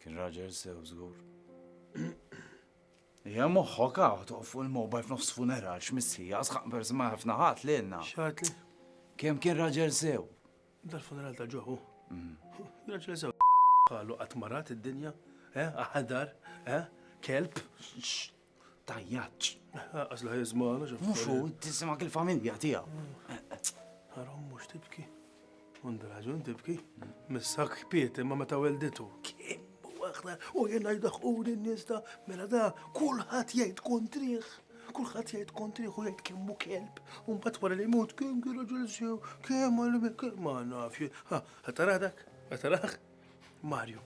Kien raġel sew żgur. Hija moħħok hawn toqgħod fuq il-mobile f'nofs funeral x'missija sħaq persi ma ħafna ħadd lilna. X'għad li? Kemm kien raġel sew? Dal-funeral ta' ġoħu. Mm. Raġel sew qalu qatt marat id-dinja, eh, aħdar, eh, kelb. Tajjaċ. Għaz la jizmana ġafna. Mux u, tisimak il-familja tija. Għarom mux tibki. Għandu raġun tibki. Missak kpiet imma meta welditu. Kim waħda u jena jdaħquni n-nista. Mela da, kullħat jgħid kontriħ. Kullħat jgħid kontriħ u jgħid kemmu kelb. Unbat wara li mut kim kien raġun sew. Kim għalim kim ma nafx. Għataradak, għataradak. Mario,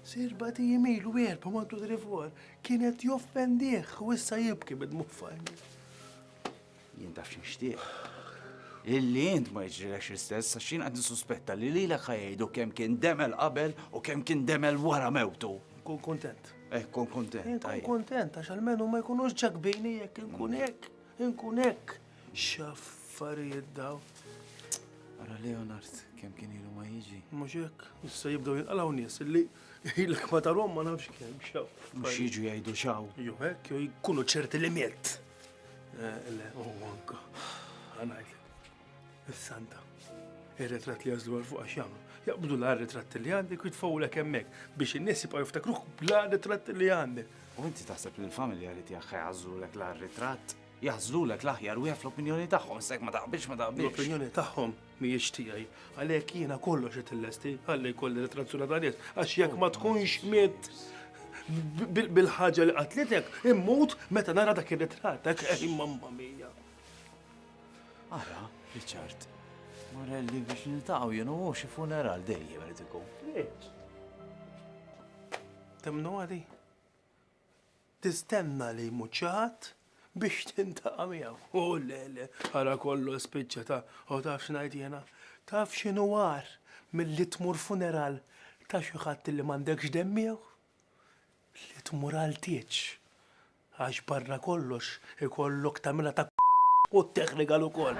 serba ti jimilu erba mantu drifor, kienet joffendiħ u issa jibki bid-muffajn. Jien taf xinxtieq. Illi jint ma jġrilek istess, għax jien għad nisuspetta li li l ħajdu kem kien demel qabel u kem kien demel wara mewtu. Kun kontent. Eh, kun kontent. Kun kontent, għax għal-menu ma jkunux ġakbini jek, nkun jek, nkun jek. X'affarijiet dawn! Ara Leonard kemm kien ilu ma jiġi. Mhux hekk, issa jibdew jinqalgħu nies li ilek ma tarhom ma nafx kemm xaw. Mhux jiġu jgħidu xaw. Jo hekk jew jkunu ċerti li miet. Eh, le, u anka. Għanajt. Is-Santa. Ir-ritratt li jażlu għal fuq għax jagħmlu. Jaqbdu l ritratt li għandek u jitfawlek hemmhekk biex in-nies jibqgħu jiftakruh bla ritratt li għandek. U inti taħseb li l-familja li tiegħek ħajgħażlulek l ritratt? Jaħżlulek l-aħjar wieħed fl-opinjoni tagħhom, issa jekk ma taqbilx ma taqbilx. L-opinjoni tagħhom mhijiex tiegħi, għalhekk jiena kollox qed illesti, ħalli jkolli retrazzjoni ta' nies, għax jekk ma tkunx mitt bil-ħaġa li qatlitek, immut meta nara dak ir-ritratt, dak eh, mamma mija. Ara, Richard, Morelli biex niltaqgħu jien u xi funeral dejjem irid ikun. Temnu għali? Tistenna li jmut xi ħadd biex tintaqa' miegħu. Hu le, le, ara kollox spiċċa ta' u taf x'ngħid jiena? Taf x'inhu agħar milli tmur funeral ta' xi ħadd li m'għandekx demm miegħu? Li tmur għal tieġ. Għax barra kollox ikollok tagħmilha ta' u tteħħ rigal ukoll.